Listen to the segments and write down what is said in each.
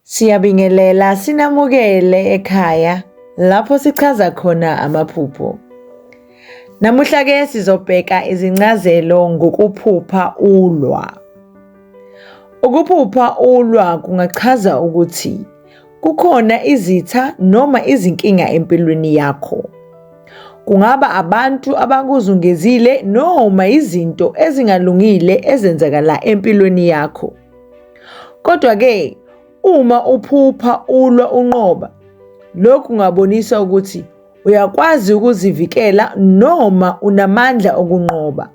Siyabingelela sinamukele ekhaya lapho sichaza khona amaphupho. Namuhla ke sizobheka izincazelo ngokuphupha ulwa. Ukuphupha ulwa kungachaza ukuthi Kukhona izitha noma izinkinga empilweni yakho. Kungaba abantu abakuzungezile noma izinto ezingalungile ezenzakala empilweni yakho. Kodwa-ke uma uphupha ulwa unqoba, lokhu kungabonisa ukuthi uyakwazi ukuzivikela noma unamandla okunqoba.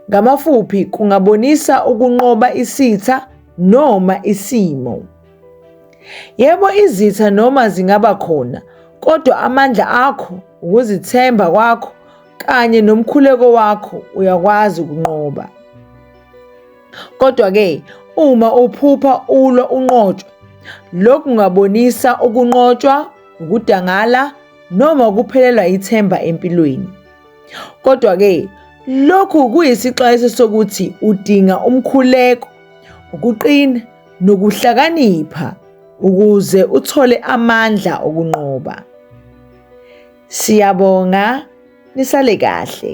Ngamafuphi kungabonisa ukunqoba isitha noma isimo. Yebo, izitha noma zingaba khona, kodwa amandla akho, ukuzithemba kwakho kanye nomkhuleko wakho uyakwazi ukunqoba. Kodwa-ke uma uphupha ulwa unqotshwa, lokhu kungabonisa ukunqotshwa, ukudangala noma ukuphelelwa ithemba empilweni. Kodwa-ke lokhu kuyisixwayiso sokuthi udinga umkhuleko, ukuqina nokuhlakanipha ukuze uthole amandla okunqoba. Siyabonga nisale kahle.